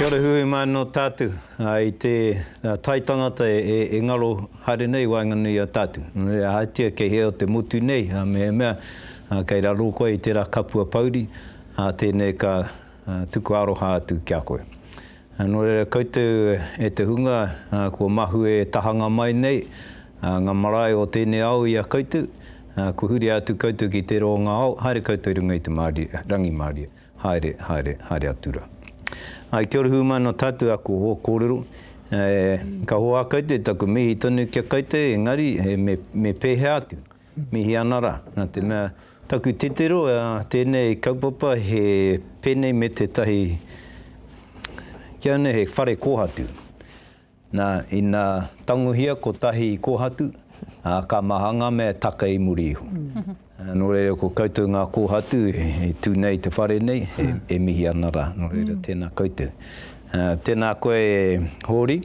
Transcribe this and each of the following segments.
Kia ora hui hui mai no tātou. I te tai tangata e ngaro haere nei i waenganui i a tātou. No reira, ahatia kei hea o te motu nei, mehemea kei raro koe i tērā kapua pouri, tēnei ka tuku aroha atu ki a koe. Nō reira koutou e te hunga kua mahue tahanga mai nei ngā marae o tēnei ao i a koutou, kua huria atu koutou ki tērā o ngā ao, haere koutou i runga i te rangimārie, haere, haere, haere atu rā. Āe, kia ora hūmāna nō tātou āku kōrero, ka hoā koutou taku mihi tonu ki a koutou, engari me pēhea atu? Mihi ana ra, na te mea taku titiro a tenei kaupapa he penei me tetahi kia nei he whare kohatu. Na, ina tangohia kotahi i kohatu, a ka maha nga mea e taka i muri iho. No reira ko koutou nga kohatu e tu nei i te whare nei, e mihi ana ra. No reira tena koutou. Tēnā koe e Hōri.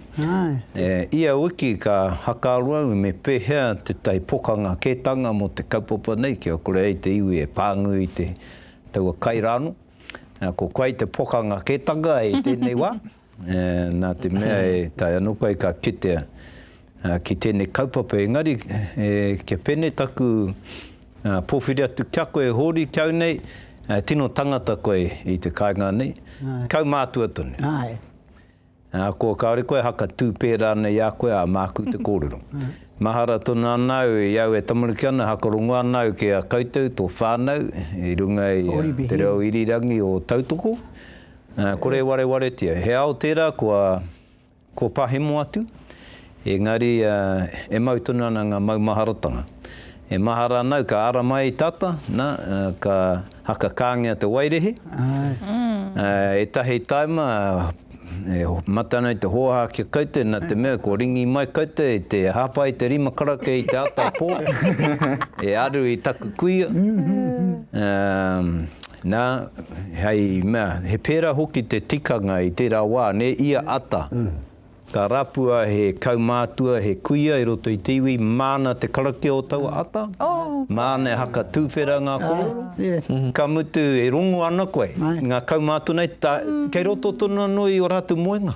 Ia wiki ka hakaaro au me pēhea te tae pokanga kētanga mō te kaupapa nei kia kore ai te iwi e pānui i te taua kai rānō. Ko koe te pokanga kētanga i tēnei wā, nā te mea e tae anō koe ka kitea ki tēnei kaupapa engari kia pēnei taku pōwhiri atu kia koe e hōri ki au nei, tino tangata koe i te kāinga nei, kaumātua tonu. Ko kāore koe haka tū pērā ana i a koe ā māku te kōrero. Mahara tonu ana au i au e tamariki ana haka rongo ana au ki a koutou tō whānau i runga i te reo irirangi o tautoko, kore e warewaretia. He ao tērā kua. Ko pahemo atu, engari e mau tonu ana nga maumaharatanga. E mahara ana au ka ara mai ai tata, na, ka hakakangea te wairehe. Etahi taima e mate ana i te hoaha ki a koutou na te mea kua ringi mai koutou i te hapa i te rima karaka i te ata po e aru i taku kuia. Nā, hei mea, he pērā hoki te tikanga i tērā wā, nē, ia ata, ka rapua he kaumātua, he kuia i roto i te iwi, māna te karakia o taua ata, māna e haka tūwhera ngā kōrero, ka mutu e rongo ana koe, ngā kaumātua nei, kei roto tonu anō i ō rātou moenga.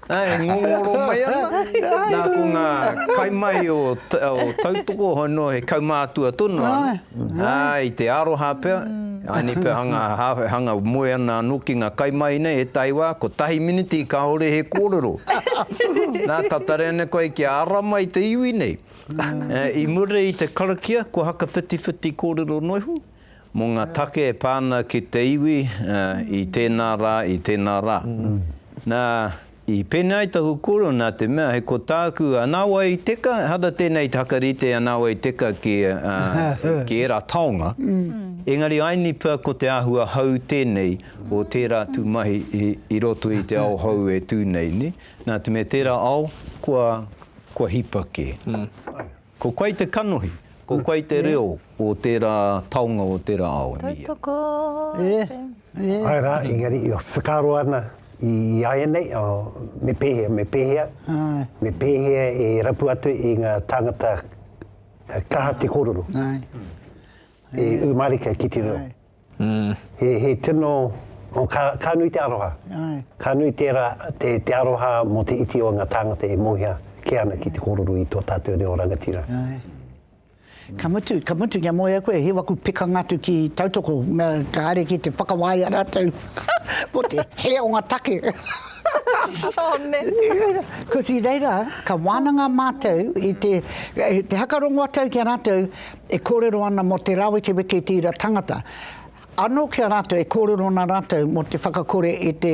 Ā, e ngongoro mai ana. Nā, ko ngā kaimahi o tautoko, hoi noa he kaumātua tonu anō, ā, i te aroha pea, āni pea hanga, hanga moe ana anō ki ngā kaimahi nei, ētahi wā, kotahi miniti kāore he kōrero. Nā, ka taria nei koe kia ara mai te iwi nei. I muri i te karakia, kua hakawhitiwhiti kōrero noa iho. Mō ngā take e pā ana ki te iwi i tēnā rā, i tēnā rā. Nā, i pēnei ai taku kōrero nā te mea, hei ko tāku, nā wai i teka, ehara tēnei te hakarite, nā wai i teka ki, ki ērā taonga, engari aini pea ko te āhua hou tēnei o tērā tū mahi i, i roto i te ao hou e tū nei, nē? Nā te mea tērā ao, kua, kua hipa kē. Ko koe te kanohi, ko koe te reo o tērā taonga o tērā ao, e mihia. Tautoko te. Ae rā, engari e whakaaro ana i iaianei, me pēhea, me pēhea, me pēhea e rapu atu i ngā tāngata kaha te kōrero, e ū mārika ki te reo. He tino, ka nui te aroha, ka nui tera te aroha mo te iti o nga tāngata e mohia ke ana ki te koruru i to tatou reo rangatira. Ka mutu, ka mutu kia mohia koe, he waku pekanga atu ki tautoko, me kare ki te whakawaia ratou mo te hē o nga take. Kosi reira, ka wananga matou i te, te haka rongo atou ki a ratou, E kōrero ana mō te rāwekeweke i tērā tangata. Anō ki a rātou e kōrero ana rātou mō te whakakore i te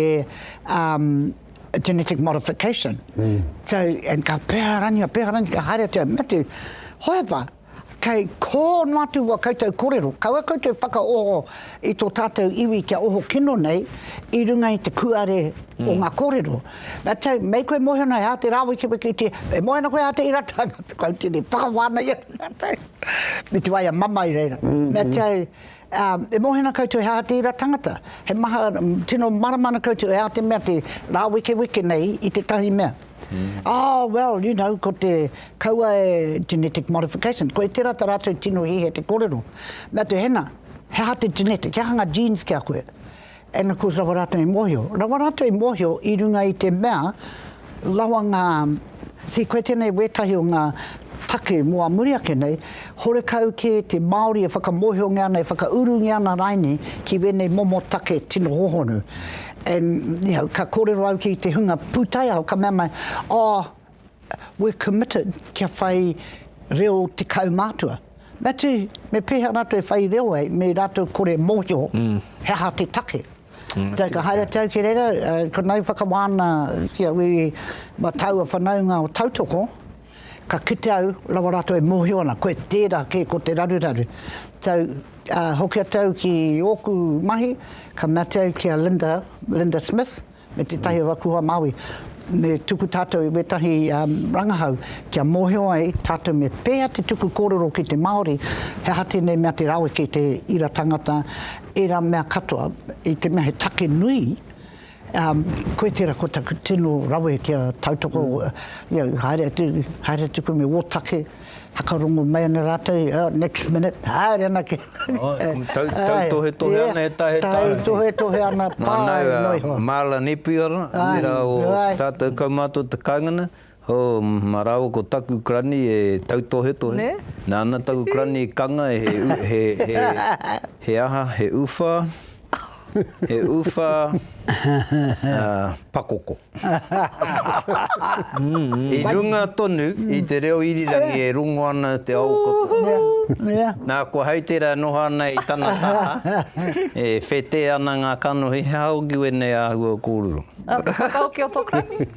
um, genetic modification. Mm. So, and ka peharangia, peharangia, ka haere atu, me te hoepa, kei kō no atu wa koutou korero, kaua koutou whakaoho i tō tātou iwi kia oho kino nei i runga i te kuare mm. o ngā korero. Na te, mei koe mohio nei a te rawekeweke i te, e moe ana koe a te ira tanga, te kau tene, whakawha ana ia na te, me te waia mama i reira. Na te, um, e mohe ana koutou he aha te ira tangata, he maha, tino marama ana koutou e a te mea te rawekeweke nei i te tahi mea. Oh, well, you know, ko te, kaua e, genetic modification, ko e tera ta ratou tino hihe te korero. Na te, hena, he aha te genetic, he aha nga genes ki a koe? And of course rawa ratou i mohio, rawa ratou i mohio i runga i te mea rawa nga, see koe tenei wetahi o nga take mo a muri ake nei, horekau ke te Maori e whakamohiongia ana, e whakaurungia ana rainei ki wenei momo take tino hohonu. And you know, ka korero au ki te hunga putaiao ka mea mai, oh, We're committed kia whai reo te kaumātua. Matty, me pēhea rātou e whai reo ai, me rātou kore mōhio mm. he aha te take. Mm. Tau ka haere te au ki reira, uh, ko nau whakawāna ki a ui ma taua whanaunga o tautoko, ka kite au rawa rātou e mōhio ana, koe tērā kē ko te raruraru. Tau uh, hoki atu au ki ōku mahi, ka mea au ki a Linda, Linda Smith, me tētahi o aku hoa Māori, me tuku tātou i wētahi rangahau kia mōhio ai tātou me pēhea te tuku kōrero ki te Māori, he aha tēnei mea te rawe ki te ira tangata, ērā mea katoa, i te mea he take nui, koe tērā ko taku tino rawe kia tautoko, haere atu koe me ō take, Whakarongo mai ana rātou, oh, next minute, haere ana ki. Tautohetohe ana he taha he taha. Tautohetohe ana, pae noa iho. Nā, Marla Nepia rā, tērā o tātou kaumātua te kāingana, oh, mā rāua ko taku karani e tautohetohe, nāna taku karani i kanga he, he, he, he aha, he uwha, He uwha pakoko. I runga tonu i te reo irirangi e rongo ana te ao katoa. Nā kua hei tērā e noho ana i tana taha, e whetē ana ngā kanohi, he aha hoki wēnei āhua kōrero? Whakaoki o tō krahi?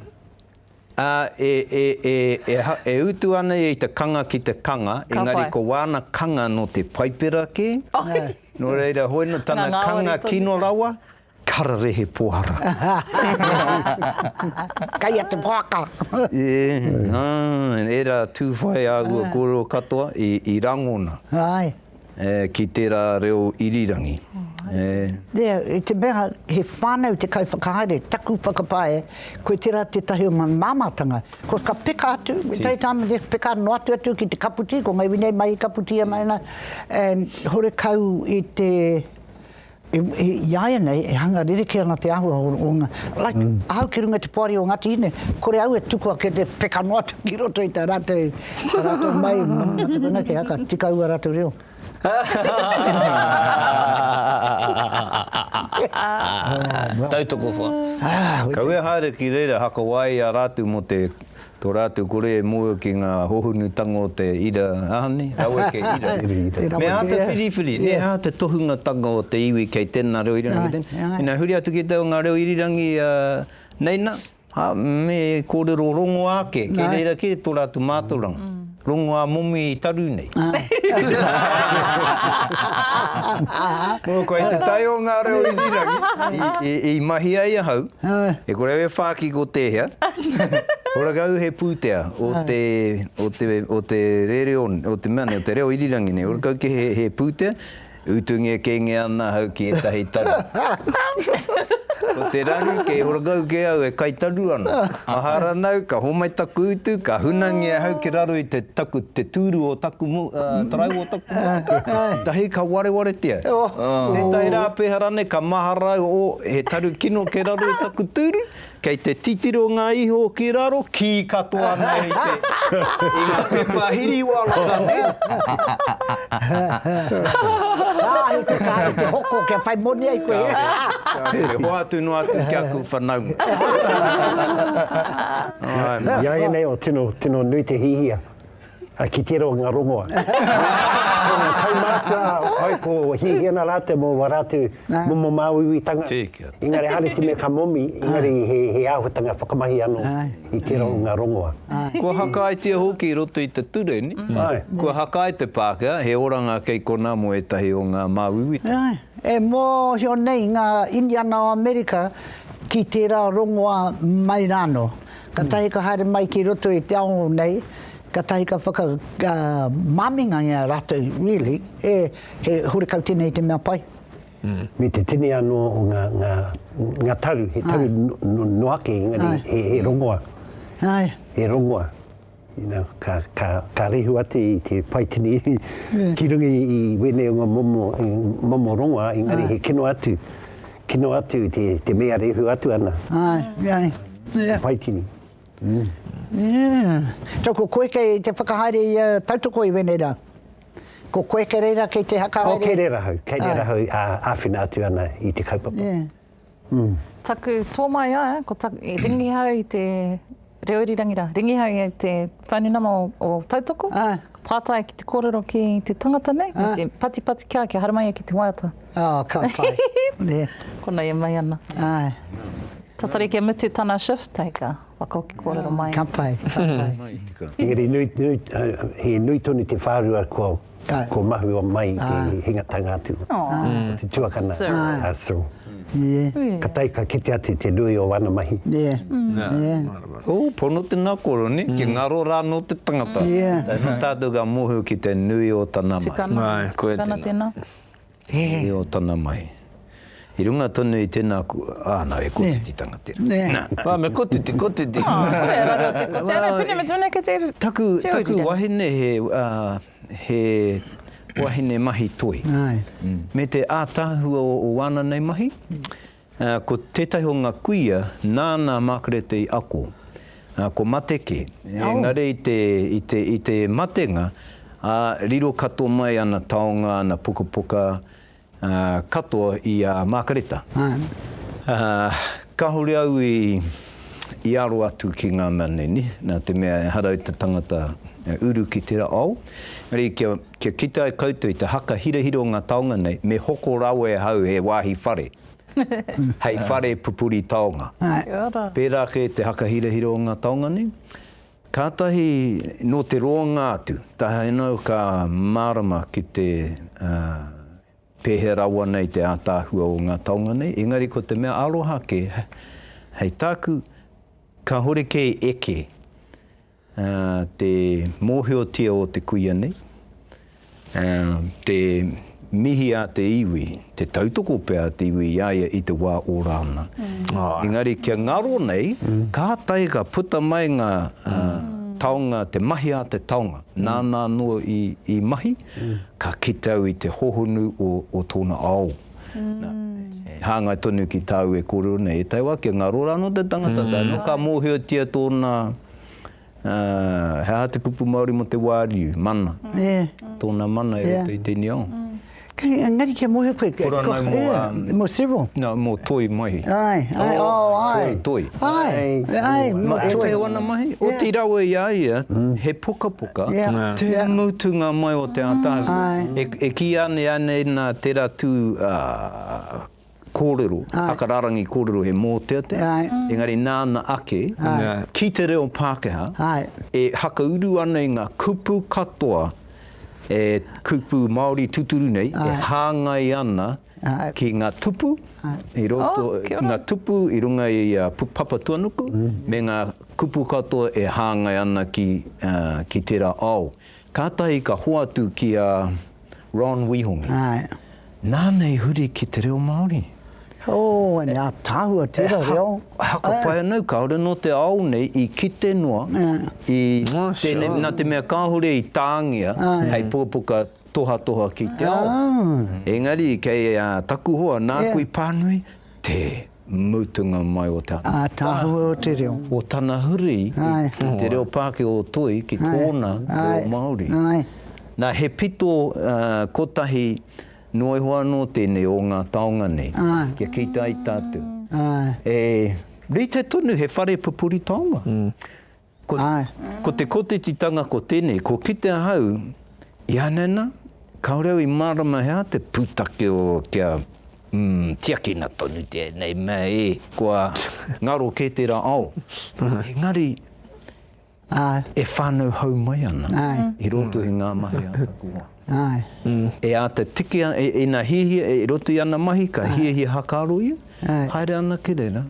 Ā, e, e, e, e, ha, e utu ana ia i te kanga ki te kanga, Ka engari whai. ko wāna kanga nō te Paipera kē, Nā. nō reira, hoi nō Ngā tana ngāwari kanga tonu. kino rawa, kararehe pohara. Kei a te waka. E, ā, ērā tūwhai āhua kōrero katoa i, i rangona. Āe. E, ki tērā reo irirangi. E. Nē, i te mea he whānau te kaiwhakahaere, taku whakapae, koe tērā tētahi o ngā māmātanga. Ko ka peka atu, we take time and peka noa atu atu ki te kaputī, ko ngā iwi nei mahi kaputī ana, ana, and horekau i te, Iāianei e hanga rerekē ana te āhua o ngā, like, ahau ki runga i te poari o Ngāti Hine, kore au e tuku ake te peka noa atu ki roto i tā rātou, tā rātou mai, nā te mea kē haka, tika au ā rātou reo. Tautoko wha. Kawea haere ki reira, hakawae i a rātou mō te Tō rātou kore e mōhio ki ngā hohonutanga o te ira ahane, raweke ira. Me āta whiriwhiri, nē, hā, te tohungatanga o te iwi kei tēnā reo irirangi, kei tēnā. Ina huri atu ki te o ngā reo irirangi nei nā, hā, me kōrero rongoā ake, kei reira kē tō rātou mātauranga. Rongoā momi i taru nei. Nō koe te tai o ngā reo iwirangi i mahi ai ahau, e kore au e whāki ko tēhea, ko rakau he pūtea o te, o te, o te rereo, o te mea nei, o te reo irirangi nei, o rakau ke he, he pūtea, Utu ngekenge ana ahau ki etahi taru. Ko te raru kei horakau ke au e kai taru ana. Mahara nau ka homai taku utu ka hunangi ahau ki raro i te taku te turu o taku taraiwa o taku motu. Etahi ka warewaretia. Tetahi ra pehara nei ka mahara au oh he taru kino ke raro i taku turu Kei te titiro ngā iho ki raro, kī katoa nei i te, i ngā pepa hiri wānaka nei. Kāre te, kāre te hoko kia whai moni ai koe. Kāre te hoatu noa atu ki aku whanaunga. Āe mā. Ināianei o tino, tino nui te hihia. Hai ki te ronga rongoa. Ko nga kaumātua, hai ko Hihiana rātou mō wā rātou momo māuiuitanga. Engari haere te mea ka momi, engari he āhuatanga whakamahi anō i te ronga rongoa. Kua hakaetia hoki i roto i te ture, kua hakae te Pākehā, he oranga kei konā mō ētahi o ngā māuiuitanga. E mōhio nei ngā Indiana o Amerika ki tērā rongoa mai rānō. Katahi ka haere mai ki roto i te ao nei, katahi ka whaka ka maminga ia ratou really e he horekau tena i te mea pai. Me te tini ano o nga nga nga tau he tau no no ake engari he he rongoa. He rongoa. Ina, ka, ka, ka rehu atu i te paitini ki runga i, i wēnei o ngā momo, i momo rongoa, engari he kino atu, kino atu te, te mea rehu atu ana. Ai, ai. Yeah. Te paitini. Mm. Yeah. So ko koe kei te whakahaere i uh, tautoko i wēnei rā? Ko koe kei reira kei te hakahaere? Oh, kei reira hau, kei reira hau a, āwhina atu ana i te kaupapa. Yeah. Taku tō mai a, ko taku, i ringihau i te reo irirangi rā, ringihau i te whaunenama o, o Tautoko, ah. pātai ki te kōrero ki te tangata nei, ah. te patipati kia, kia haramai ki te waiata. Oh, ka pai. yeah. Kona e mai ana. Ai. Tatari kia mutu tana shift, hei ka whakaoki kōrero mai. Ka pai, ka pai. Engari, nui, nui, uh, he nui tonu te whārua kua, Ko mahua mai i te hingatanga atu o te tuakana, a Sir. Ka tae ka kite atu te nui o ana mahi. Ooh, pono te nakoro, ne, ke ngaro ra no te tangata. Tae no tatou ka mohu ki te nui o tana mahi. Tika na, tana tena. He reo tana mai. I runga tonu i tēnā ku, ā, nā, he kotititanga tērā. Ā, me kotiti, kotiti. Ā, kore, raru atu kotiti. Ā, nā, pēnei me tūnei kei te reo irirangi. Taku wahine he, ā, he wahine mahi toi. Me te ātaahua o wāna nei mahi, Ko tētahi o ngā kuia nāna a Makarete i ako, ko Mateke, engari i te matenga, riro katoa mai ana taonga, ana pukapuka katoa i a Makareta. Kāore au i aro atu ki ngā mea nei, nā te mea ehara i te tangata e uru ki tērā ao, engari kia. Kia kite ai koutou i te haka hirahira o ngā taonga nei, me hoko rawa e ahau he wāhi whare, hei whare pupuri taonga. Pērā kē te haka hirahira o ngā taonga nei, kātahi nō te roanga atu, tahinao ka mārama ki te pēhea rawa nei te ātaahua o ngā taonga nei, engari ko te mea aroha kē, hei tāku, kāhore kē e eke. te mōhiotia o te kuia nei, te mihi a te iwi, te tautoko pea a te iwi i a ia i te wā ora ana. Engari kia ngaro nei, kātahi ka puta mai ngā taonga, te mahi a te taonga, nāna anō i mahi, ka kite au i te hohonu o tōna ao. E hāngai tonu ki tāu e kōrero nei, e tai wā, kia ngaro rānō te tangata, tae noa ka mōhiotia tōna. He aha te kupu Māori mō te wāriu, mana? Tōna mana e roto i te niao. Engari kia moe koe. Kura nau mō a... Mō Cyril. Nā, mō Toi Maihi. Āe, āe, ō, āe. Toi, Toi. Āe, āe, mō Toi. E teo ana mahi, oti rawa i a ia, he pukapuka, te mutunga mai o te ātaahua. E kīia nei anei nā tērā tū kōrero, haka rārangi kōrero he mōteatea, engari nāna ake, ki te reo Pākehā, e whakauru ana i ngā kupu katoa, e kupu Māori tūturu nei, e hāngai ana ki ngā tupu, i roto, ngā tupu i runga i a Papatuanuku, me ngā kupu katoa e hāngai ana ki tērā ao. Kātahi ka hoatu ki a Ron Wihongi. Āe. Nāna i huri ki te reo Māori. Oh, ēnei ātaahua tērā reo. He haka pai anō, kāore anō te ao nei i kite noa i tēnei, nā te mea kāore i tāngia hei pukapuka tohatoha ki te ao. Engari kei a Takuhoa, nāku i pānui, tē. mutunga mai o te. Ātaahua o te reo. O tana huri i te reo Pākehā o Toi ki tōna reo Māori. Nā, he pito kotahi noa iho anō tēnei o ngā taonga nei, kia kitea ai tātou. E rite tonu he whare pupuri taonga. Ko te kotetitanga ko tenei, kua kite ahau, i anana, kaore au i marama he aha te putake o kia tiakina tonu tenei mea e, kua ngaro ke tera ao, engari e whanau hau mai ana i roto i nga mahi a taku hoa. E ata tiki ana, ina hihia, i roto i ana mahi, ka hiahia hakaaro ia, haere anake rera,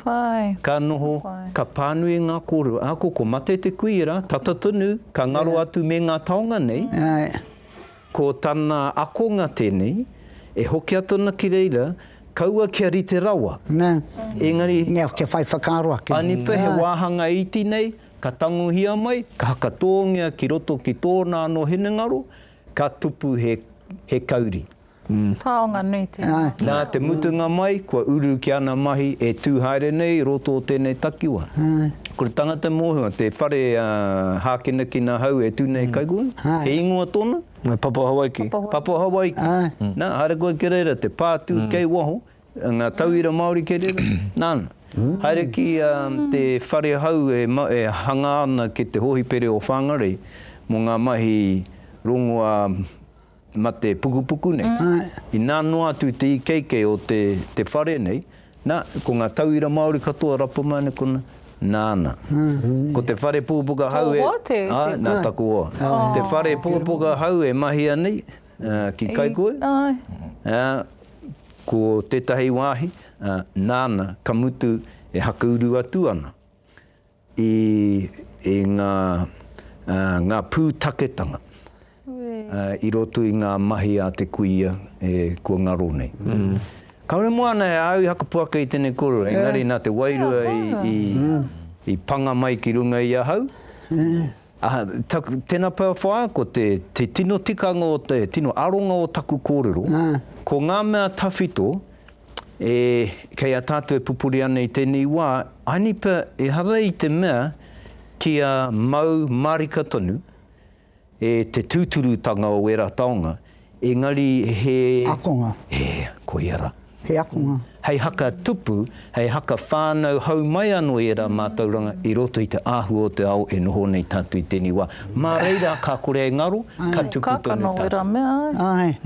Whai. Ka noho, ka pānui ngā kōrero. Ako ko mate te kuiera, tata tonu, ka ngaro atu me ngā taonga nei. Āe. Ko tana akonga tēnei, e hoki atu ana ki reira, kaua kia rite rawa. Nā. Engari. Nā, kia whai whakaaro ake. Anipa he wāhanga iti nei, ka tangohia mai, ka hakatōngia ki roto ki tōna anō hinengaro, ka tupu he kauri. Taonga nui tēnā. Nā te mutunga mai, kua uru ki ana mahi e tū haere nei i roto o tēnei takiwa. Ko te tangata mōhio, te whare a Hākinakina Hau e tū nei kai koe, he ingoa tōna? Papa Hawaiki. Papa Hawaiki. Nā, haere koe ki reira, te pātū kei waho, ngā tauira Māori kei reira. Nāna, haere ki te whare hau e hangā ana ki te hōhipere o Whāngarei mō ngā mahi rongoā. He mate pukupuku nei. Inā noa atu te ikeike o te te whare nei, nā, ko ngā tauira Māori katoa rapa mai ana kona, nāna. Ko te whare pukapuka hau e. Tō hoa te. Āe, nā taku hoa. Te whare pukapuka hau e mahia nei ki Kaikohe. Āe. Ko tētahi wāhi, nāna ka mutu e hakauru atu ana. i i ngā ngā pūtaketanga i roto i ngā mahi a te kuia e kua ngaro nei. Kāore moana e āu hakapo ake i tēnei kōrero, engari nā te wairua i i panga mai ki runga i ahau. Tēnā pea whaea ko te te tino tikanga o te tino aronga o taku kōrero, ko ngā mea tawhito, E, kei a tātou e pupuri ana i tēnei wā, aini pea ehara i te mea kia mau mārika tonu e te tūturutanga o ērā taonga, engari he. Akonga. E, koia rā. He akonga. Hei haka tupu, hei haka whānau hau mai anō i ērā mātauranga i roto i te āhua o te ao e noho nei tātou i tēnei wā. Mā reira ka kore e ngaro, ka tupu tonu tātou. Ai, ka kano wera mea ai. Ai,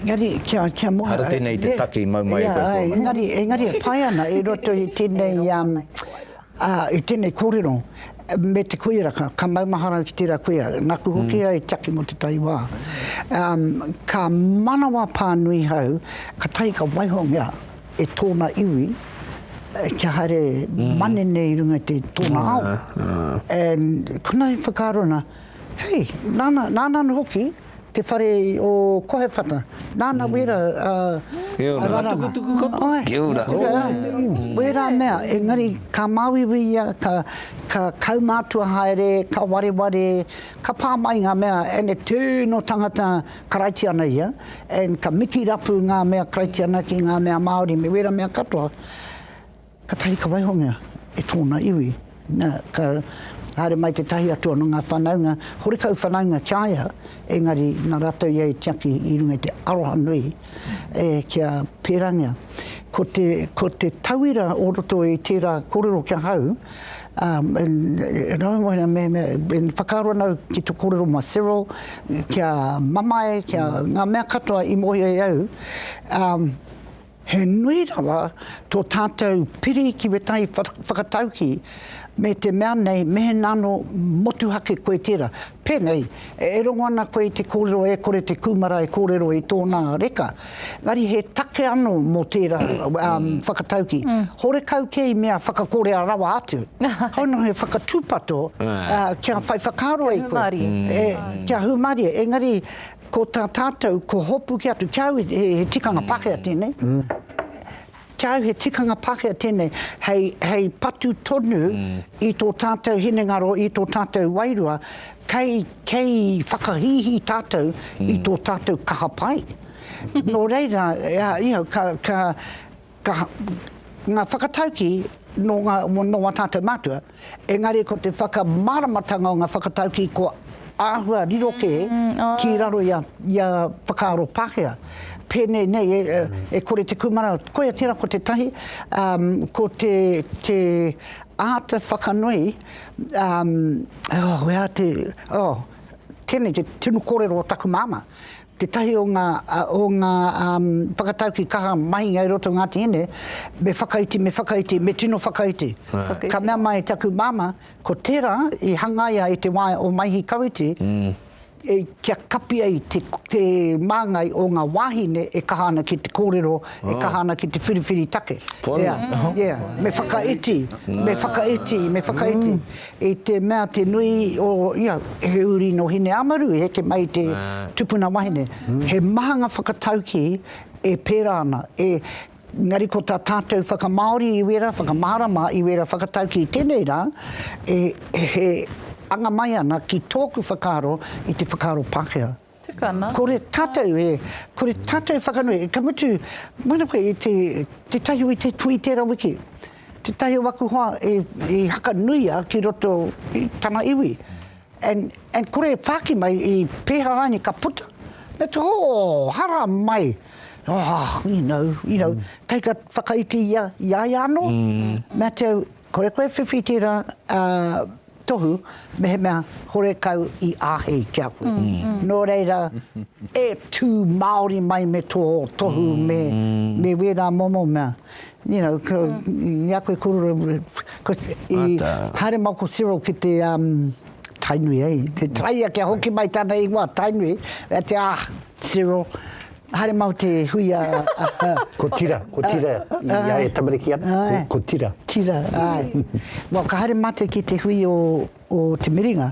engari kia, kia moe. Ara tēnei i te take i mau mai e koutou. Ai, engari, engari e pai ana i roto i tēnei, i tēnei kōrero me te kuia, ka, ka maumahara au ki tērā kuia, naku hoki ai taki mō tētahi wā, ka manawa pānui hau, ka tahi ka waiho ngia. e tōna iwi, kia haere mm. manene i runga te tōna mm. ao. Mm. And kona i whakaaro ana, hei, nāna, nāna no hoki, te whare o Kohewhata. Nāna mm. wera a, Kia ora. a raranga. Tuku kapa. Ai, Kia ora. Tuku, ai. Mm. Wera mea, engari ka māwiwi ia, ka, ka kaumātua haere, ka wareware, ka pā mai ngā mea, and e tū no tangata Karaitiana ia, and ka miti rapu ngā mea Karaitiana ki ngā mea Māori me wēra mea katoa, katahi ka waihongia e tōna iwi. Na, ka haere mai tētahi atu anō ngā whānaunga, horekau whānaunga ki a ia, engari na rātou ia i tiaki i runga i te aroha nui e ki a Pērangia. Ko te, ko te tauira o roto i tērā kōrero ki ahau, whakaaro ana au ki to korero mo Cyril kia mamae kia nga mea katoa i mohio e au he nui rawa to tatou piri ki wetahi whakatauki me te mea nei mehena ano motuhake koe tera. Pēnei, e rongo ana koe i te kōrero e kore te kūmara e kōrero i tōnā reka, engari he take anō mō tērā whakatauki, horekau kē i mea whakakorea rawa atu, hau noa he whakatūpato kia whai whakaaro ai koe. Kia hūmārie. Kia hūmārie, engari ko tā tātou, ko hopuki atu, kia au he tikanga Pākehā tēnei, Ki a au he tikanga Pākehā tēnei hei, hei patu tonu i tō tātou hinengaro, i tō tātou wairua, kei, kei whakahīhī tātou i tō tātou kaha pai. Nō reira, you know, ka, ka, ka, ngā whakataukī nō ngā, nō ā tātou mātua, Engari ko te whakamāramatanga o ngā whakataukī kua āhua riro kē ki raro i a whakaaro Pākehā. Pēnei nei, e kore te kūmara, koia tērā ko te tahi, ko te āta whakanui, oh, where to, oh, tēnei te tunu kōrero o taku māmā, Tētahi o ngā o ngā whakataukī kaha mahinga i roto o Ngāti Hine, me whakaiti, me whakaiti, me tino whakaiti. Ka mea mai taku māmā, ko tērā i hangaia i te wā o Maihi Kawiti, kia kapi ai te māngai o ngā wāhine e kaha ana ki te kōrero, e kaha ana ki te whiriwhiri take. Ea, ea, me whakaiti, me whakaiti, me whakaiti. I te mea te nui o ia, he uri nō Hineāmaru i heke mai i te tupuna wahine. He maha ngā whakataukī e pērā ana, e, engari ko tā tātou whakamāori i wērā, whakamārama i wērā whakataukī i tēnei rā, e, he anga mai ana ki tōku whakaaro i te whakaaro Pākehā. Tukana. Kore tatou e, kore tatou whakanui, ka mutu, mana koe i te, te tahi o i te tui tera wiki, te tahi o aku hoa e, e hakanuia ki roto i tana iwi, and, and kore e whāki mai i pēhā rānei ka puta, me te oh, hara mai, oh, you know, you know, tahi ka whakaiti i a, i a ia anō, me te au, kore koe e whiwhi tera, uh, tohu mehemea horekau i āhei ki a koe. Nō reira, e tū Māori mai me tō tohu, me, me wērā momo mea. You know, ko, i a koe kōrero, ko, i, Āta. haere mau ko Cyril ki te, um, Tainui, eh, te Taraia kia hoki mai tāna ingoa, Tainui, me te, ah, Zero. Haere mau te hui a... Ko Tira, ko Tira i a e tamariki ana, ko Tira. Tira, āe. Well, ka haere mātou ki te hui o, o Te Miringa,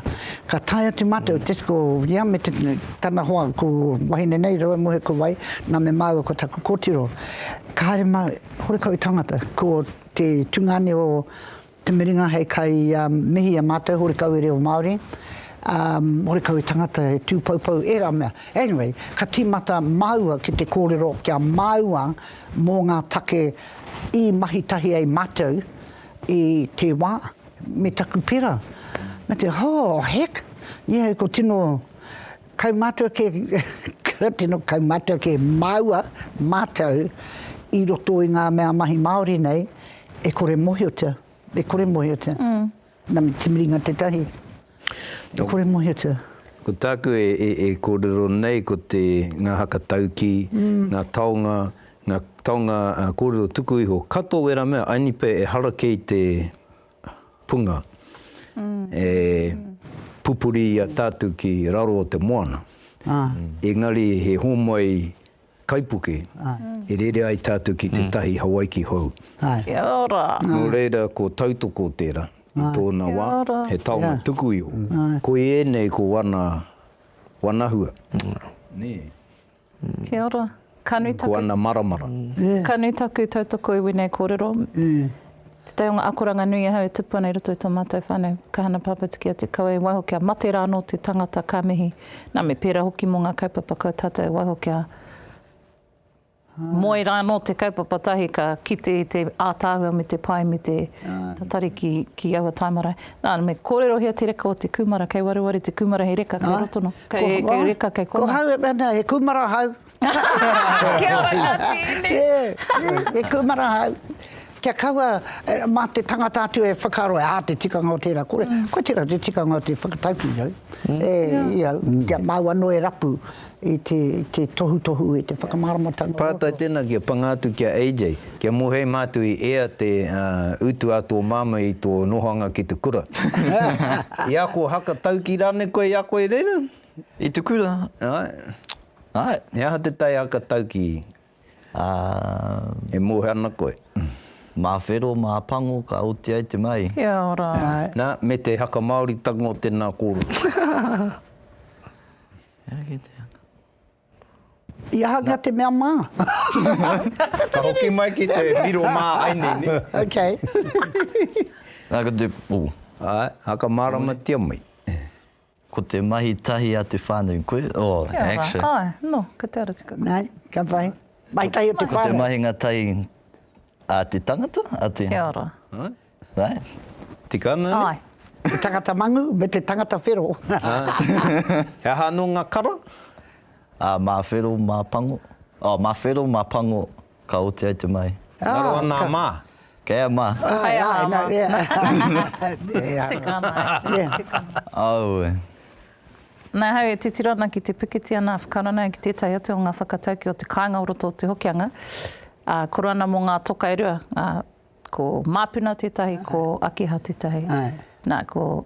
ka tae atu mātou, just ko ia me te, tana hoa, ko wahine nei, raua muhe ko wai, nā me māua ko taku kōtiro. Ka haere mātou, horekau tangata, ko te tungāne o Te miringa hei kai mihi a matou hore kau e reo Maori hore kau e tangata e tu poupou era mea anyway ka timata maua ki te korero kia maua mo nga take i mahi tahi ai matou i te wa me taku pera me te oh heck yeah ko tino Kaumātua kē, kua tino kaumātua kē māua, mātou, i roto i ngā mea mahi Māori nei, e kore mōhiotia, e kore mōhiotia. Na me te miringa tētahi, e kore mōhiotia. Ko tāku e, e, e kōrero nei ko te, ngā haka taukī, ngā taonga, ngā taonga kōrero tuku iho. Katoa wērā mea, I need pay, ehara kē i te punga e pupuri i a tātou ki raro o te moana, engari he hōmai kaipuke e rere ai tātou ki tētahi Hawaiki hou. Kia ora! Nō reira, ko Tautoko tērā, i tōna wā, he taonga tuku iho. Koiēnei ko ana wānahua. Kia ora. Ka nui taku... Ko ana maramara. Ka nui taku tautoko i wēnei kōrero. Te tai o ngā akoranga nui ahau e tupu ana i roto i tō mātou whānau. Ka hana pāpā te kia te kawe, waiho kia mate rā anō te tangata, ka mihi. Nā, me pērā hoki mō ngā kaupapa kau tātou, waiho kia moe rā anō te kaupapa tahi ka kite i te ātaahua me te pai me te tatari ki aua taimarae. Nā, me kōrerohia te reka o te kūmara, kei wareware te kūmara hei reka, kei roto noa, kei, ko, kei reka, kei kona. Ko hau e mena, he kūmara hau. Kia ora ngā tīni. Yeah, he kūmara hau. Kia kaua, eh, mā te tangata atu e whakaaro, ā, te tikanga o tērā, kore, mm. koe tērā te tikanga o te whakataukī au. Mm. E, yeah. you know, mm. kia māu anō e rapu. i te, te tohutohu, i te whakamāramatanga. Pātai tēnā kia panga atu ki a AJ, kia mōhei mātou i ea te uh, utu a tō māmā i tō nohoanga ki te kura. I a koe haka tauki rānei koe i a koe reira? I te kura? Ai. Ai. He aha te tai haka tauki? Uh, e mōhe ana koe? Mā whero, mā pango, ka oti ai te mai. Kia ora. Nā, me te haka Māoritanga o tēnā kōrero. I aha nga te mea ma? Ka hoki mai ki te riro ma ai nei, ne? Ok. Na ko te, oh. Ae, a ka maramatia mai. Ko te mahi tahi a te whanau, koe, oh, action. Kia ora, ae, no, ko te ara tika. Nei, ka pai. Mahi tahi o te whanau. Ko te mahinga tahi a te tangata, a te. Kia ora. Tika ana ne? Ae. Te tangata mangu me te tangata whero. He aha ano nga kara? Ma whero ma pango. Oh, ma whero ma pango ka oti ai te mai. Ngaro ana a ma. Kei a ma. Kei a ma. Tika ana a Jane, tika ana. Aue. Nā ahau e titiro ana ki te pikiti ana a Whakaranau ki tētahi atu o ngā whakataukī o te kāinga o roto o Te Hokianga, ā, koro ana mō ngā toka e rua, ā, Ko Māpuna tētahi, ko Akiha tētahi. Nā, ko,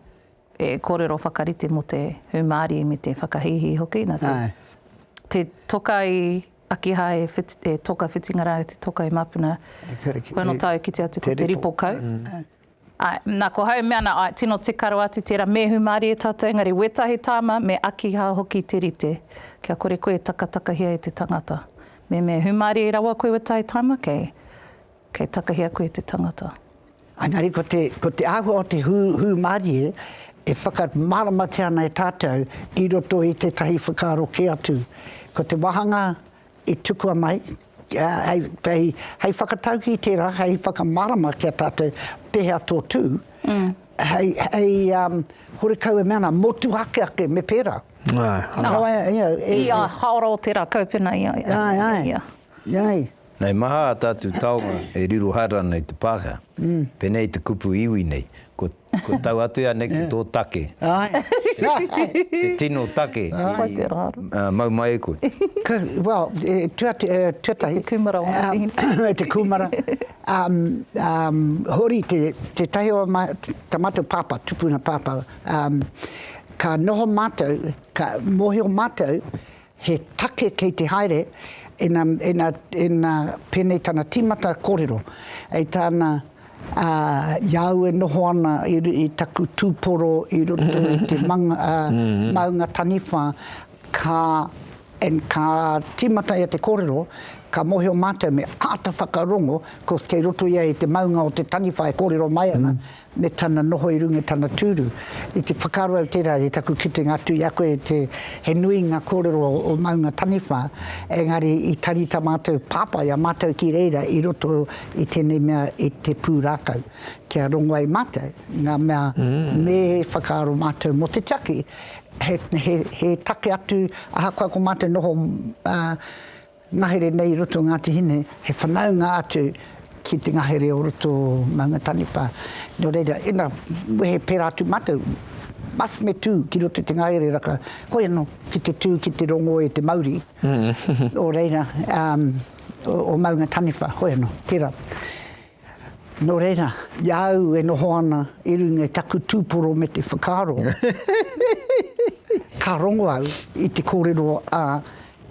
e kōrero whakarite mō te hūmārie me te whakahīhī hoki, nā te, te toka i Akiha e, e toka whitinga rā, te toka i Māpuna, ko ana tau e kite atu ko te ripo kau. Āe, nā, ko hau e mea ana, āe, tino tika rawa atu tērā, me hūmārie tātou, engari wētahi tāma me Akiha hoki te rite, kia kore koe e takatakahia e te tangata. Me, me hūmārie rawa koe wētahi tāma, kei, Kei takahia koe te tangata. Engari ko te, ko te āhua o te hū, hūmārie e whakamāramatia ana e tātou i roto i tētahi whakaaro kē atu. Ko te wāhanga i tukua mai, hei, hei, hei whakataukī i tērā, hei whakamārama ki a tātou pēhea tō tū, hei, hei um, horekau e mea ana, motuhake ake, me pērā. Ai, ai. Nā, you know, e, i a haora o tērā kaupena, ia, ia, ia. Ai, ai. Hei maha a tātou taonga e riro haere ana i te pākehā. Pēnei te kupu iwi nei, ko ko tau atu ia nei ki tō take. Te tino take i mau mai e koe. Well, tuatahi. Te kūmara o Ngāti Hine. Te kūmara. Hōri tētahi o tā mātou pāpā, tupuna pāpā, ka noho mātou, ka mōhio mātou He take kei te haere, ina, ina, ina pēnei tana tīmata kōrero, hei tāna, ā, i a au e noho ana i, i taku tūporo i roto i te manga, ā, maunga taniwha, ka, and, ka tīmata ia te kōrero, ka mōhio mātou me āta whakarongo, of course kei roto ia i te maunga o te taniwha e kōrero mai ana, me tana noho i runga i tana tūru, i te whakaaro au tērā i taku kitenga atu i a koe te he nui ngā kōrero o maunga taniwha, engari i tarita mātou pāpā i a mātou ki reira i roto i tēnei mea i te pūrākau kia rongo ai mātou ngā mea me whakaaro mātou mō te tiaki he, he, he take atu ahakoa ko mātou noho ā, Ngahere nei i roto o Ngāti Hine, he whanaunga atu ki te ngahere o roto o Maunga Taniwha. Nō reira, ina wehe pērā atu mātou, must me tū ki roto i te ngahere raka, hoi anō, ki te tū, ki te rongō e te mauri o reira, o Maunga Taniwha, hoi anō, tērā. Nō reira, i a au e noho ana i runga i taku tūporo me te whakaaro, ka rongo au i te kōrero a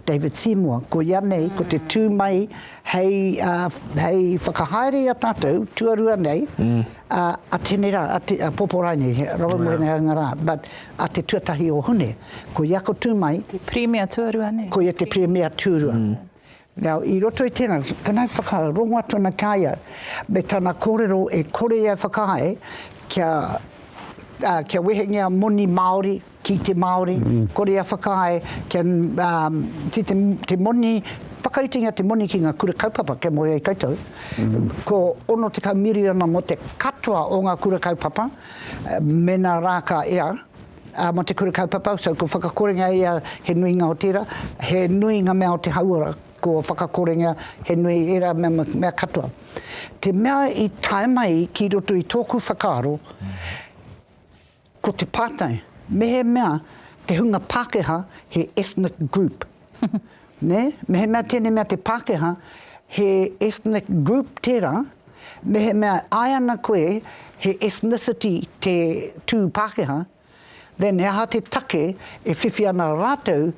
David Seymour, koia nei, ko te tū mai hei, hei whakahaere i a tātou, tuarua nei, a Tene rā, a Poporai nei, he rawa mō ēnei anga rā, but a te tuatahi o Hune, koia ko tū mai. Te Pirimia tuarua nei. Koia te Pirimia tūrua. Nau, i roto i tēnā, tēnā whakarongoa tonu ki a ia, me tana kōrero e kore ia e whakahae kia, ā, kia wehengia moni Māori ki te Māori, kore ia whakahae kia, ā, ki te, te moni, whakautingia te moni ki ngā kura kaupapa kia moe ai koutou, ko 60 miriona mō te katoa o ngā kura kaupapa, mēnā rā ka ea, Mo te kura kaupapa, so kua whakakorenga ia he nuinga o tera, he nui nga mea o te hauora kua whakakorenga, he nui era mea katoa. Te mea i tae mai ki roto i toku whakaaro, ko te patai, mehemea te hunga Pakeha he ethnic group, Nē? Mehemea tēnei mea te Pākehā, he ethnic group tērā, mehemea e āe ana koe he ethnicity te tū Pākehā, then he aha te take e whiwhi ana rātou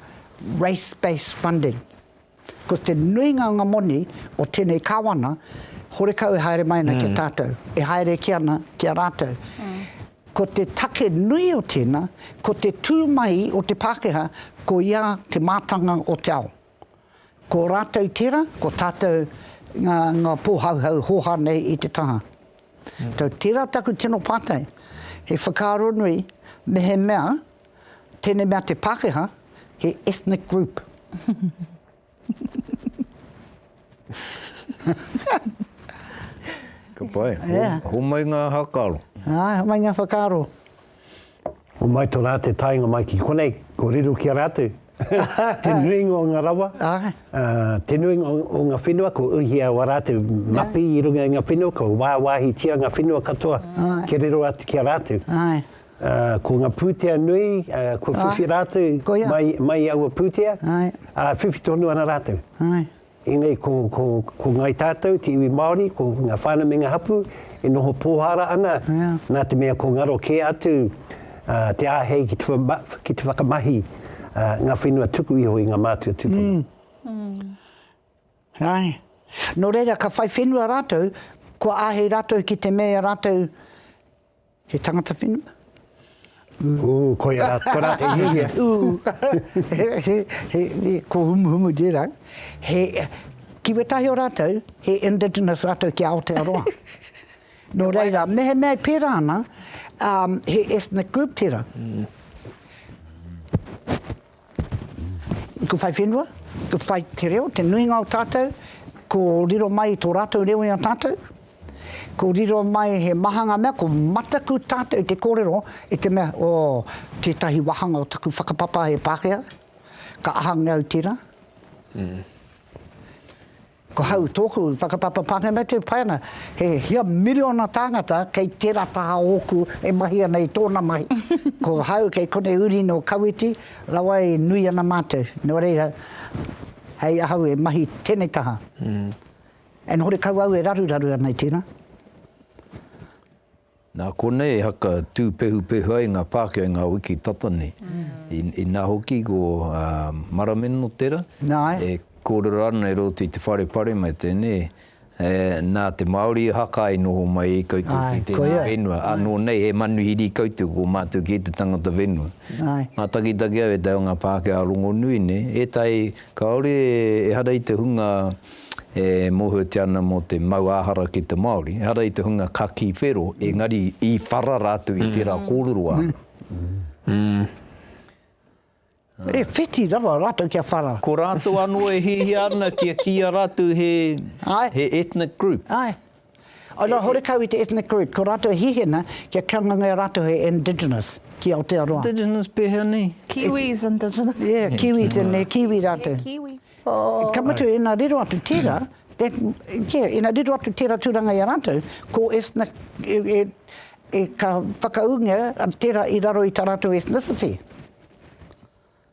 race-based funding? Ko te nuinga o ngā moni o tēnei Kāwana, horekau e haere mai ana ki a tātou, e haere ki ana ki a rātou. Ko te take nui o tēnā, ko te tū mai o te Pākehā, ko ia te mātanga o te ao. Ko rātou tērā, ko tātou ngā, ngā pōhauhau hōhā nei i te taha. Tau, tērā taku tino pātai, he whakaaro nui, mehemea, tēnei mea te Pākehā, he ethnic group. Ka pai. Homai ngā whakaaro. Āe, homai ngā whakaaro. Homai tō rā te taenga mai ki konei, ko riro ki a rātou. Te nuinga o ngā rawa, te nuinga o ngā whenua, ko uhia wā rātou mapi i runga i ngā whenua, ko wāwāhitia ngā whenua katoa kia riro atu ki a rātou. Ko nga putea nui, kua whiwhi ratou mai i aua putea, a whiwhi tonu ana ratou. Enei ko ngai tatou, te iwi Maori, ko nga whana me nga hapu, e noho pohara ana, na te mea kua ngaro ke atu te ahei ki te whakamahi nga whenua tuku iho i nga matua tupuna. Ae. No reira ka whai whenua ratou, kua ahei ratou ki te mea ratou He tangata whenua? Ū, koia rā, ko rā te hihia. Ū, he, he, he, he, ko humuhumu tērā. He, ki wētahi o rātou, he indigenous rātou ki Aotearoa. Nō reira, mehemea e pērā ana, um, he ethnic group tērā. Ko whai whenua, ko whai te reo, te nuinga o tātou, ko riro mai i tō rātou reo i a tātou, ko riro mai he maha ngā mea, ko mataku tātou i te kōrero i te mea, oh, tētahi wāhanga o taku whakapapa e Pākehā, ka ahangia au tērā. Mm. Ko hau tōku whakapapa pāngarau tē whai ana, he hia miriona tāngata kei tērā taha ōku e mahi ana i tōna mahi. Ko hau kei konei uri nō Kawiti rawa e nui ana mātou, nō reira, hei ahau e mahi tēnei taha. Ennore kau au e raruraru ana i tēnā. Nā konei e haka tūpehupehu ai ngā Pākehā i ngā wiki tata nei. Inā hoki ko Marameno tera, e kōrero ana e roto i te whare pare mai tēnei, nā te Māori e haka ai noho mai i koutou ki tēnei whenua, anō nei he manuhiri koutou ko mātou kē te tangata whenua. Mātakitaki au e te ao o ngā Pākehā rongonui nei, ētahi, Kāore ehara i te hunga e mōhiotia ana mō te mau āhara ki te Māori, ehara i te hunga ka kī whero, engari i whara rātou i tērā kōrero āna. E whiti rawa rātou kia whara. Ko rātou anō e hiahia ana kia kīia rātou he ethnic group. Āe. Ai rā horekau i te ethnic group, ko rātou e hihina kia kanganga e rātou he indigenous ki Aotearoa. Indigenous pēhea nei? Kiwis indigenous. Yeah, Kiwis and he Kiwi rātou. He Kiwi. Oh. Ka mutu ina riro atu tērā, e, yeah, ina riro atu tērā tūranga i a rātou, ko ethnic, e, e, e ka whakaūngia tērā i raro i tā rātou ethnicity.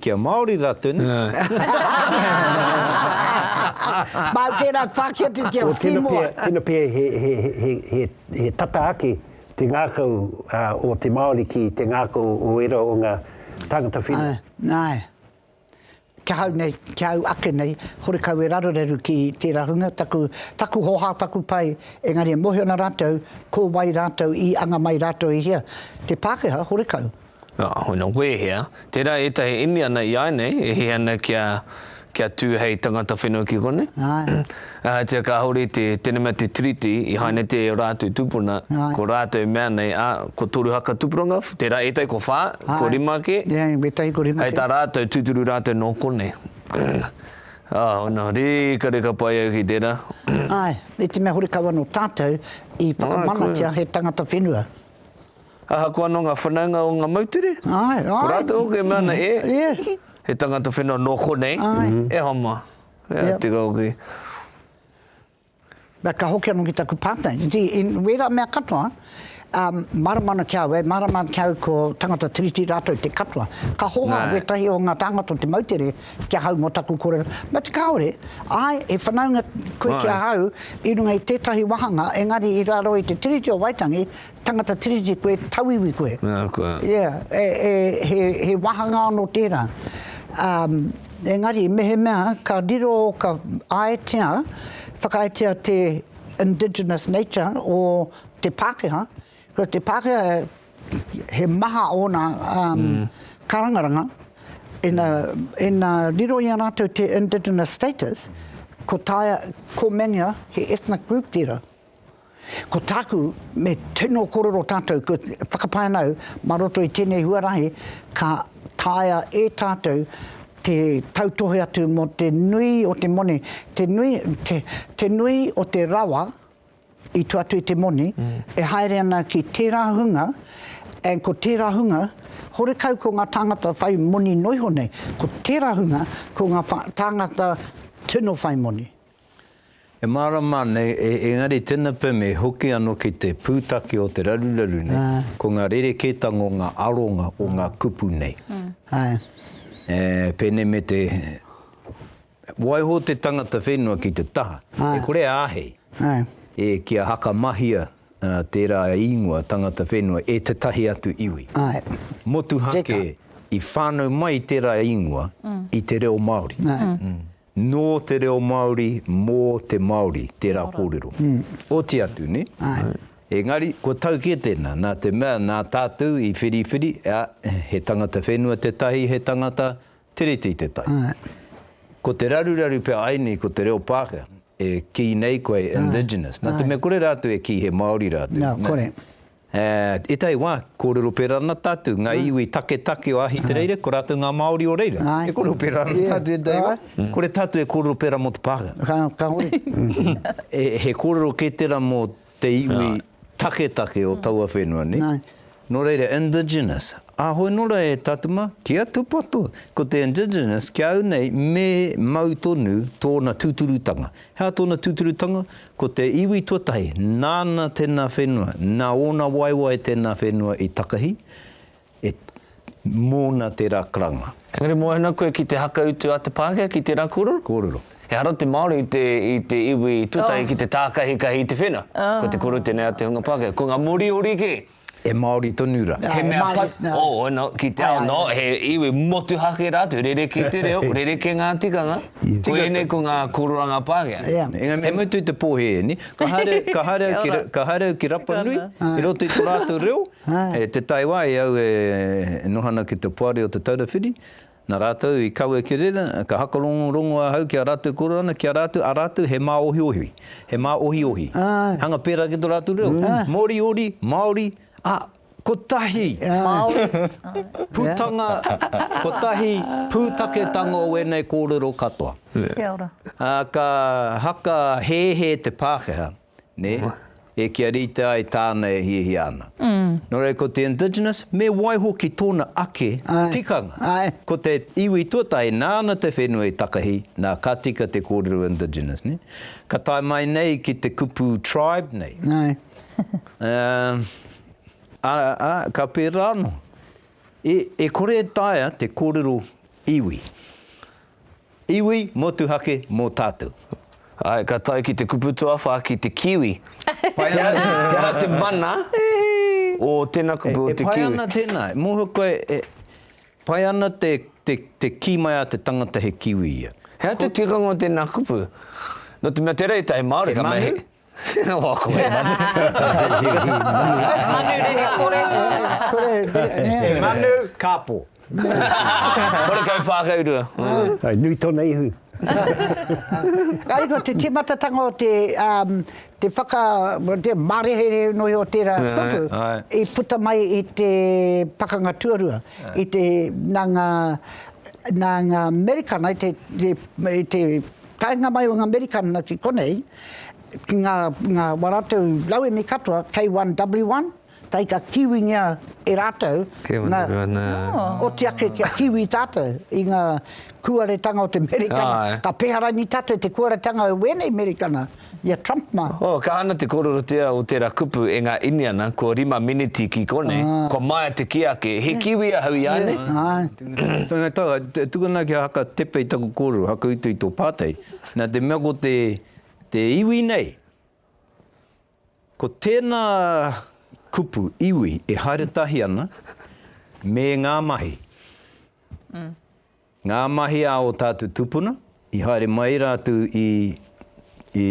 Kia Māori rā tonu. Mā tērā whāki atu ki a Seymour. Tēnā pea he tata ake te ngākau o te Māori ki te ngākau o ērā o ngā tāngata whenua. Āe. Ki ahau nei, ki au ake nei, horekau e rarureru ki tērā hunga, taku, taku hoha, taku pai, engari e mōhio ana rātou ko wai rātou i anga mai rātou i hea. Te Pākehā, horekau, Nā, hoina wēhea? Tērā ētahi Indiana i āinei e hē ana kia, kia tū hei tangata whenua ki konei. Āe. Ahatia kāore te, tēnei mea te Tiriti i haina te o rātou tūpuna, Āe. ko rātou i mea nei, ā, ko toru haka tupuranga, tērā ētahi ko whā, Āe. ko rima ake. Ia, wētahi ko rima ake. Hei tā rātou, tūturu rātou nō konei. Ā, hoina, rīkarika pai au ki tērā. Āe, i te mea horekau anō tātou i whakamanatia he tangata whenua. Ahakoa anō ngā whanaunga o ngā moutere, ko rātou hoki e mea ana, E! He tangata whenua nō konei, e hama. Ea, tika hoki. Ā, ka hoki anō ki taku pātai. You see, i wērā mea katoa, mārama ana ki a au, e mārama ana ki a au ko tangata Tiriti rātou te katoa. Ka hoha wētahi o ngā tāngata o te moutere ki ahau mō taku kōrero. But kāore, āe, he whanaunga koe ki ahau i runga i tētahi wāhanga, engari i raro i te Tiriti o Waitangi, Tangata Tiriti koe, tauiwi koe. Ahakoa. Ia, e, e, he, he wāhanga anō tērā. Ā, engari, mehemea ka riro, ka āetia, whakaaetia te indigenous nature o te Pākehā, ko te Pākehā he maha ōna, ā, kārangaranga, ina, ina riro i a rātou te indigenous status, ko Taea, ko Mengia, he ethnic group tērā. Ko tāku, me tino korero tātou, ko whakapae ana au, mā roto i tēnei huarahi, ka taea e tātou te tautohe atu mō te nui o te moni, te nui, te, te nui o te rawa i tua atu i te moni, mm. e haere ana ki tērā hunga, and ko tērā hunga, horekau ko ngā tāngata whai moni noiho nei, ko tērā hunga, ko ngā tāngata tino whai moni. E mārama ana e, engari tena pem e hoki ano ki te pūtake o te raruraru nei, ko nga rerekētanga o nga aronga o nga kupu nei. E, pēnei me te, waiho te tangata whenua ki te taha, e kore a āhei, e, kia hakamahia tērā īngoa tangata whenua e tetahi atu iwi. Motuhake i whānau mai tērā īngoa i te reo Māori. Nō te reo Māori, mō te Māori tērā kōrero. Oti atu, nē? Engari, kua tau kē tēnā, nā te mea, nā tātou i whiriwhiri, ā, he tangata whenua tētahi, he tangata Tiriti tētahi. Ko te raruraru pea ai nei ko te reo Pākehā, e kī nei koe indigenous, nā te mea kore rātou e kī he Māori rātou. Nā, kore. E, ētahi wā, kōrero pērā ana tātou, ngā iwi taketake o Ahitereire, ko rātou ngā Māori o reira. E kōrero pērā ana tātou ētahi wā. Kore tātou e kōrero pērā mō te pākanga. Ka hore. He kōrero kē tērā mō te iwi taketake o taua whenua, nē? Nō reira, indigenous. Ā, hoi anō rā e tātou mā, kia tūpato, ko te indigenous, ki a au nei, me mau tonu tōna tūturutanga. He aha tōna tūturutanga? Ko te iwi tuatahi, nāna tēnā whenua, nā ōna waewae tēnā whenua i takahi, e, mōna tērā karanga. Engari moana koe ki te hakautu a te Pākehā ki tērā kōrero? Kōrero. Ehara te Māori i te, i te iwi tuatahi ki te tākahikahi i te whenua. Ko te kōrero tēnei a te hunga Pākehā. Ko ngā Moriori kē. He Māori tonu ra. He mea pat, oh, no, ki te ao, no, he iwi motuhake rātou, rerekē te reo, rerekē ngā tikanga, ko ēnei ko ngā kōroranga Pākehā. Engari me mutu te pōhē, ni, ka haere, ka haere au ki, ka haere au ki Rapanui, i roto i to rātou reo, e te tai wā e au e noha ana ki te Poari o Te Taura Whiri, Na ratou i kawe ki rera, ka hakarongorongo ahau ki a ratou korona, ki a ratou, a ratou he maohiohi, he maohiohi, hanga pera ki to ratou reo, Moriori, Maori, a, kotahi putanga, kotahi putaketanga o enei korero katoa. Ka haka hehe te Pakeha. nē, e kia rite ai tāna e hiahia ana. Nō reira ko te indigenous, me waiho ki tōna ake tikanga. Ko te iwi tuatahi, nāna te whenua i takahi, nā, ka tika te kōrero indigenous, nē. Ka tae mai nei ki te kupu tribe nei, ā, ka pērā anō. E kore e taea te kōrero iwi. Iwi motuhake mō tātou. Ae, ka tae ki te kupu tuawha ki te kiwi. Pai ana. He aha te mana o tena kupu o te kiwi? E pai ana tena, mohio koe e pai ana te te ki mai a te tangata he kiwi ia. He aha te tikanga o tena kupu? No te mea tera e tai Maori ka mahi. Oh, ko he manu. Manu rere kore. Kore, nē. He manu, kāpō. Kore kau pākaurua. Hai, nui tōna ihu. Engari ko te tīmatatanga o te, te whaka, te māreherē nui o tērā kupu, i puta mai i te Pakanga Tuarua, i te, nā ngā, nā ngā Amerikana, i te, i te, Taenga mai o nga Amerikana ki konei, ki nga nga wa ratou rauemi katoa K1W1, tae ka kiwingia e ratou nga oti ake kia kiwi tatou i nga kuaretanga o te Amerikana. Ka peha rangi tatou i te kuaretanga o wenei Amerikana. I a Trump mā. Oh, ka hana te kororotea o tera kupu e nga Iniana, ko rima miniti ki konei, kua maea te ki ake, he Kiwi ahau i a nei? Tena tau, e tukuna kia haka tepe i taku korero, haka utu i to patei. Na te mea ko te, te iwi nei, ko tena kupu, iwi, e haere tahi ana me nga mahi. Ngā mahi a ō tātou tūpuna, i haere mai rātou i i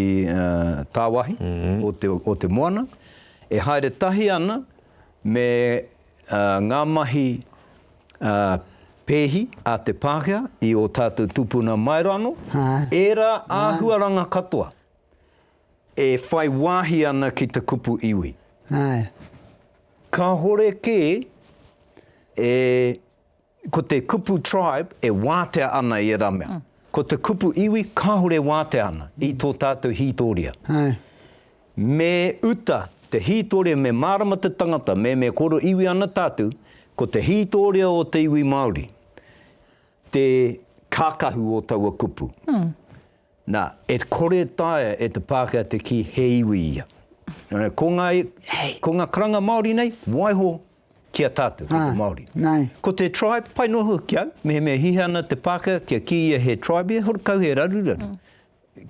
tāwahi o te o te moana, e haere tahi ana me ngā mahi pēhi a te Pākehā i ō tātou tūpuna Maeroano, ērā āhuaranga katoa e whai wāhi ana ki te kupu iwi. Kāhore kē e. Ko te kupu tribe e wātea ana i ērā mea. Ko te kupu iwi kāore e wātea ana i tō tātou hītōria. Me uta te hītōria, me mārama te tangata, me me koro iwi ana tātou, ko te hītōria o te iwi Māori te kākahu o taua kupu. Nā, e kore e taea e te Pākehā te kī he iwi ia. Ko ngā, ko ngā karanga Māori nei, waiho ki a tātou, ki te Māori. Ko te tribe, pai noa hoki ki au, mehemea hiha ana te Pākehā kia kī ia he tribe ia, he hore kau he raruraru.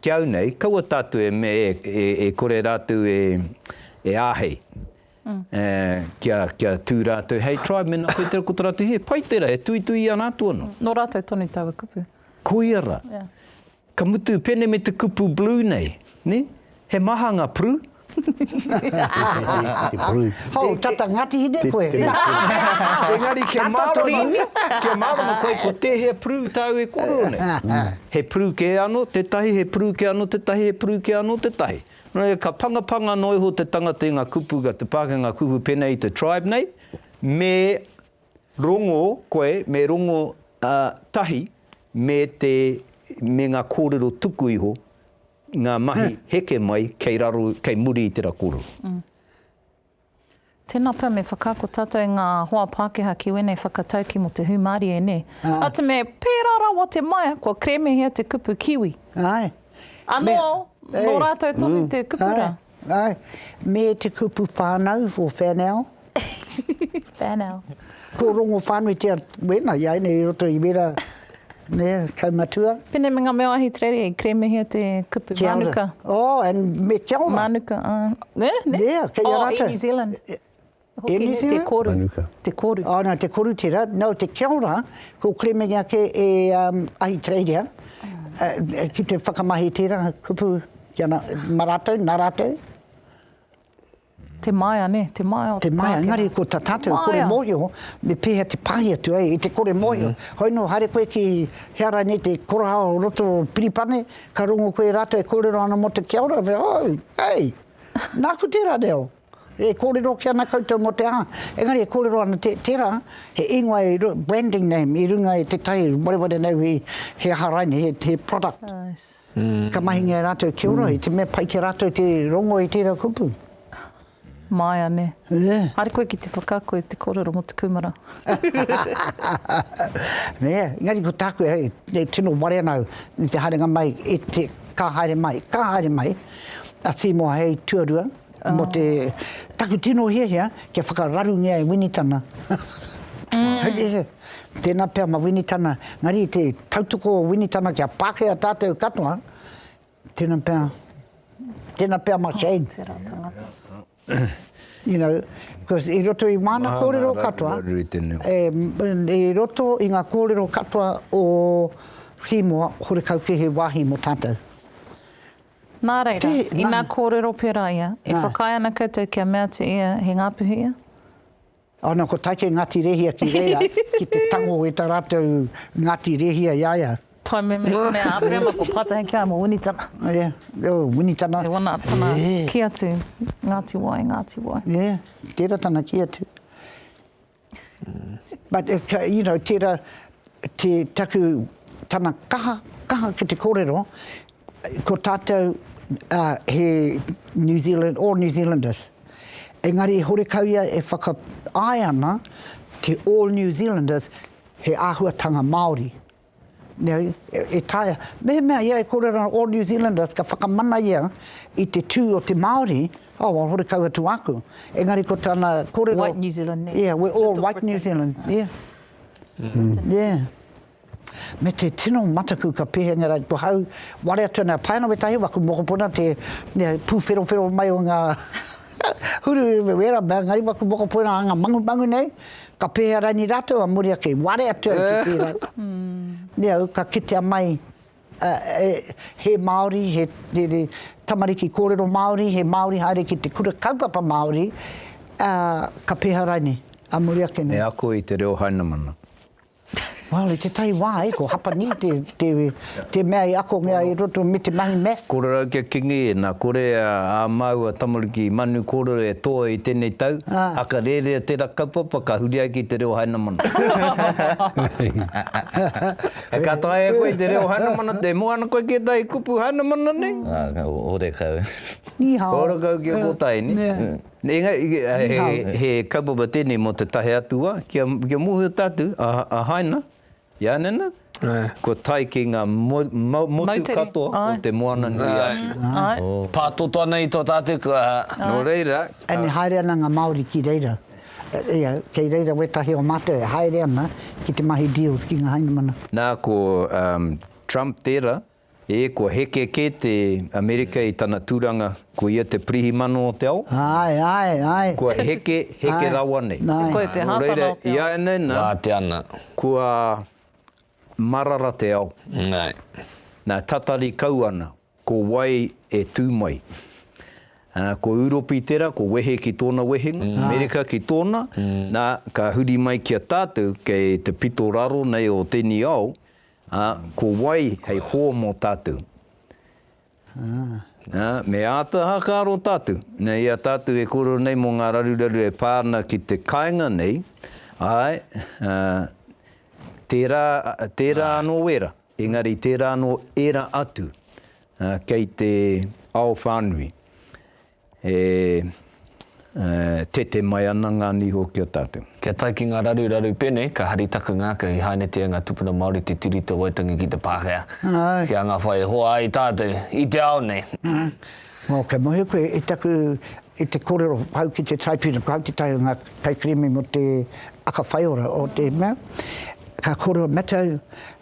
Ki au nei, kaua tātou e me, e kore rātou e, e āhei kia, kia tū rātou hei tribe, mēnā koe tērā ko tō rātou hē, pai tērā, e tuitui i a rātou anō. Nō rātou tonu taua kupu. Koia ra. Ka mutu pene me te kupu blue nei, ne? He maha nga pru. Hou, tata Ngati Hine koe. Engari kia marama, kia marama koe ko tehea pru tau e korero nei. He pru ke ano tetahi, he pru ke ano tetahi, he pru ke ano tetahi. No reira ka pangapanga no iho te tangata i nga kupu ka te pake nga kupu pene i te tribe nei, me Rongo koe me rongo tahi me te me nga korero tuku iho nga mahi heke mai kei raro kei muri i tera korero. Tena pea me whakaako tatou nga hoa Pakeha ki wenei whakatauki mo te humarie ne. Atu me pera rawa te maia kua kremehia te kupu kiwi. Ano no ratou tonu te kupu ra. Ā, me te kupu whānau o Whēnao. Whēnao. Ko Rongowhānuitea wēnā, i a ēnei i roto i wērā, nē, kaumatua. Pēnei me ngā mea wāhi Terere, i keremehia te kupu mānuka. Kia ora. Oh, and me kia ora. Mānuka, ā. Nē, nē. Yeah, kei a rātou. Oh, i New Zealand. Hoki he te koru. Manuka. Te koru. Oh, no, te koru tera. No, te kia ora, ko Clemming ake e um, Ahitereiria, uh, ki te whakamahi tera kupu ki ana, ma ratou, na ratou. Te maia, ne? Te maia o te Te maia, ngari ko ta tatou kore mohio, me pehea te pahi atu ai, i te kore mohio. Mm. Hoi no, haere koe ki heara ne te koraha o roto o Piripane, ka rongo koe ratou e kōrero ana mo te kia ora, me, oh, hey, nāku tera reo. E kōrero ake ana koutou mō te aha, engari e kōrero ana tērā he ingoa i runga, branding name, i runga i tētahi wareware nei hui, he aha rainei, he product. Ka mahingia e rātou kia ora, i te mea pai ki a rātou te rongo i tērā kupu. Māia, nē. Haere koe ki te whakaako i te kōrero mō te kūmara. Nē, engari ko tāku hei, e tino ware ana au i te haerenga mai, i te, ka haere mai, ka haere mai a Seymour hei tuarua, Mō te taku tino hiahia kia whakararungia e Winitana. Tēnā pea ma Winitana, engari i te tautoko o Winitana kia Pākehā tātou katoa, tēnā pea, tēnā pea ma Shane. You know, because i roto i māna kōrero katoa, i roto i ngā kōrero katoa o Seymour, horekau kē he wāhi mō tātou. Nā reira, inā kōrero pērā ia, e whakaae ana koutou kia mea atu ia he ngāpuhi ia? Ana ko Taike Ngāti Rehia ki reira, ki te tango e tā rātou Ngāti Rehia i a ia. Tae me me a Aperema ko Pātahi ki a ia mō Winitana. Ia, o Winitana. Ia wana tana kī atu, Ngāti Wai, Ngāti Wai. Ia, tērā tana kī atu. But if, you know, tērā te taku, tana kaha, kaha ki te kōrero, ko tātou he New Zealand, all New Zealanders. Engari horekau ia e whakapae ana te all New Zealanders he āhuatanga Māori. Nei, e taea. Mehemea ia e kore ana All New Zealanders ka whakamana ia i te tū o te Māori, oh, a horekau atu aku. Engari ko tana korero. White New Zealand, nē. Yeah, we're all white New Zealand, yeah. Yeah. Me te tino mataku ka pihenga rā, ko hau, ware atu ana, pai ana wētahi wā, ko mokopuna te, nē, pūwherowhero mai o ngā huru, wēra mea, engari wā ko mokopuna anga mangumangu nei, Ka pēhea raini rātou a Moria kei ware atu ai ki tērā? Nē au, ka kitea mai he Māori, he tamariki kōrero Māori, he Māori haere ki te kura kaupapa Māori, ka pēhea raini a Moria kei nei? Me ako i te reo Hainamana. Well, i tētahi wā, e, ko Hapani te, te, te mea i akongia i roto me te mahi maths. Kōrero kia kingi, nā kore a, a māua tamariki manu kōrero e toa i tēnei tau, aka rērea tērā kaupapa ka huri ai ki te reo Hainamana. He ka taea koe i te reo Hainamana, e mua ana koe ki ētahi kupu Hainamana nei? Ō, ō, ō rekau. Ni hao. Ō rekau ki a Kōtahi nei. Engari, he kaupapa tēnei mō te tahe atu wā, kia mōhio tātou, a Haina, Ianena, kua tae ki ngā motu katoa o te Moana nui a Kiwa. Pātoto ana i tō tātou kaha, nō reira. Engari haere ana ngā Māori ki reira, kei reira wētahi o mātou e haere ana ki te mahi deals ki ngā Hainamana. Nā, ko Trump tērā, E, kua heke kē te Amerika i tana tūranga, ko ia te pirihimano o te ao? Āe, āe, āe. Kua heke, heke rawa nei. Āe, āe. Koe te hātana o te ao. Nō reira, ināianei nā. Wā te ana. Kua marara te ao. Āe. Nā, tatari kau ana, ko wai e tū mai? Ā, ko Ūropi tērā, ko wehe ki tōna wehenga, Amerika ki tōna, nā, ka huri mai ki a tātou, kei te pito raro nei o tēnei ao, Ā, ko wai hei hō mō tātou? Ā, me āta whakaaro tātou, nā, i a tātou e kōrero nei mō ngā raruraru e pā ana ki te kāinga nei, āe, ā, tērā, tērā anō wērā, engari tērā anō ērā atu, ā, kei te ao whānui. E tete mai ana ngā niho ki a tātou. Kia tae ki ngā raruraru pēnei, ka hari taku ngākau i hainatia ngā tupuna Māori te turi te Waitangi ki te Pākehā, ki a ngā whai e hoa ai tātou i te ao nei. Nō, kei mohi koe i taku, i te kōrero pau ki te Taipīna, koe au te tae o ngā kaikirime mō te aka whaiora o te mea, ka kōrero matau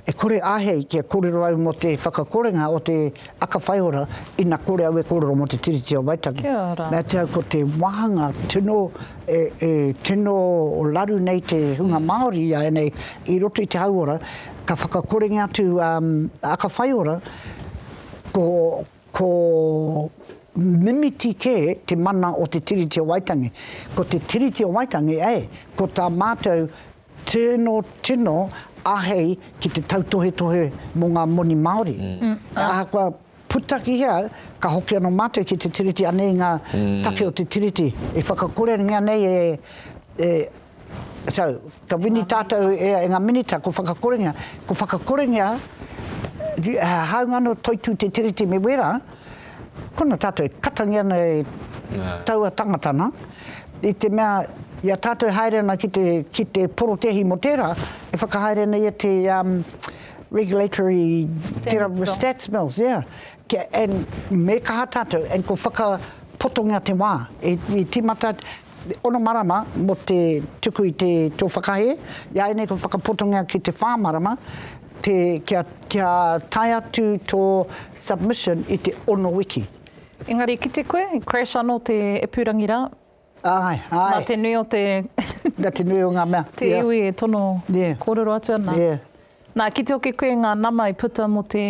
E kore āhei kia kōrero au mō te whakakorenga o te aka whaiora ina kore au e kōrero mō te Tiriti o Waitangi. Kia ora. Me ātea au ko te wāhanga tino, e, e tino raru nei te hunga Māori āianei i roto i te hauora, ka whakakorengia atu a aka whaiora, ko, ko mimiti kē te mana o te Tiriti o Waitangi. Ko te Tiriti o Waitangi, e, ko tā mātou Tino tino ahei ki te tautohetohe mo nga moni Maori. E ahakoa puta ki hea, ka hoki ano matou ki te Tiriti, anei nga take o te Tiriti e whakakorengia nei e e so ka wini tatou e nga Minita ko whakakorengia, ko whakakorengia, hāunga ano toitū te Tiriti me wera, Kona tātou e katangi ana e taua tangata nā, i te mea i a tātou e haere ana ki te, ki te porotehi mō tērā, e whakahaere ana ia te um, regulatory, tērā stats mills, yeah. Kia, and me kaha tātou, and ko whakapotongia te wā, e, e tīmata, Ono marama mō te tuku i te tō whakahē, i a ēnei kua whakapotongia ki te whā marama, te, kia, kia tae atu tō submission i te ono wiki. Engari i kite koe, i crash ano te ipurangi ra. Ae, ae. Na te nui o te. Na te nui o nga mea. Te iwi e tono korero atu ana. Yeah. Nā, ki te oke koe ngā nama i puta mō te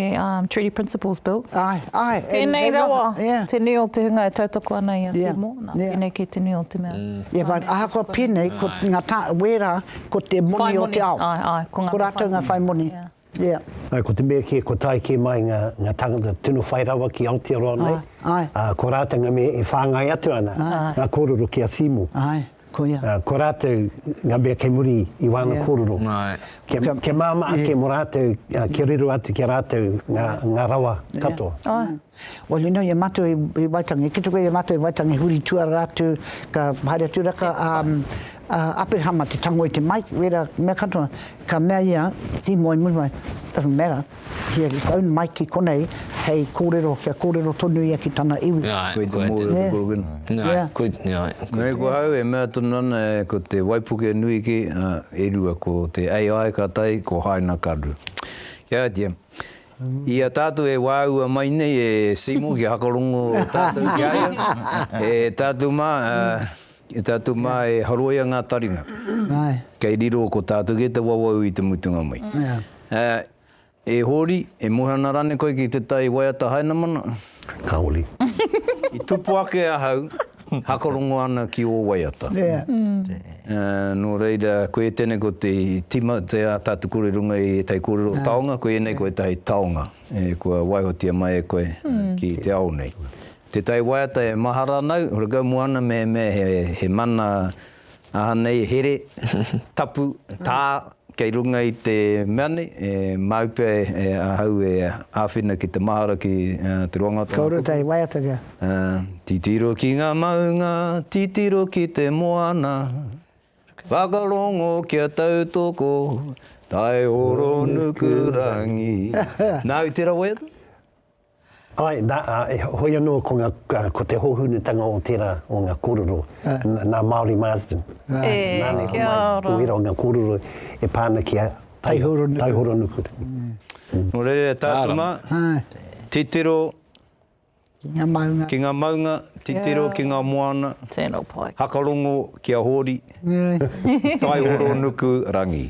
Treaty Principles Bill. Āe, āe. Pēnei rawa te nui o te hunga e tautoko ana i a Seymour, nā, pēnei kē te nui o te mea. Ia whānau. Ahakoa pēnei, ko ngā tāngata, wērā, ko te moni o te ao. Whai moni, āe, āe, ko ngā whai moni. Ko rātou ngā whai moni, ia. Āe, ko te mea kē, kua tae kē mai ngā tāngata tino whai rawa ki Aotearoa nei, ā, ko rātou ngā mea e whāngai atu ana ngā kōrero ki a Seymour. Āe. Koia. Ko rātou ngā mea kei muri i wāna kōrero. Kia māmā ake mō rātou, kia riro atu ki a rātou ngā rawa katoa. Well you know i a mātou i Waitangi, ki te kore i a mātou i Waitangi huri tuara atu, ka haere atu rā ka Aperahama te tango i te Mike, wērā mea katoa, ka mea ia, he moe muri mai, doesn't matter. Here his own mai ki konei hei kōrero, kia kōrero tonu ia ki tana iwi. Nē. Koe te mōhio te korokinā. Nē. Nē, ko au e mea tonu ana ko te waipuke nui kē, e rua, ko te AI ka tae, ko Haina Karu. Kia oti, i a tātou e wāua mai nei e Seymour kia whakarongo tātou ki a ia, e tātou mā, E tātou mā e haroia ngā taringa kei riro ko tātou kē te wawau i te mutunga mai. E Hōri, e mōhana rānei koe ki te tai waiata Hainamana? Kāore. I tupu ake ahau, hakarongo ana ki ō waiata. Nō reira, koe e tēnei ko te tima o te ā tātou kore runga i ētahi kōrero taonga, koe ēnei ko ētahi taonga e kua waihotia mai e koe ki te ao nei. Te tai waiata e mahara ana au, hore kau moana me me he mana aha nei here, tapu, ta, kei runga i te mea nei, e mau pea e ahau e awhina ki te mahara ki te roanga o tona kupu. Kaore tai waiata kia. Titiro ki nga maunga, titiro ki te moana, whakarongo kia tautoko, tai oro nuku rangi. Nau tera waiata. Āe, nā, ā, heoi anō ko ngā, ko te hōhunutanga o tērā o ngā kōrero, nā Māori Marsden, nā ngā homai o ērā o ngā kōrero e pā ana ki a Taihoronukura. Nō reira e tātou mā, titiro ki ngā maunga, titiro ki ngā moana, hakarongo ki a Hōri, Taihoronukurangi.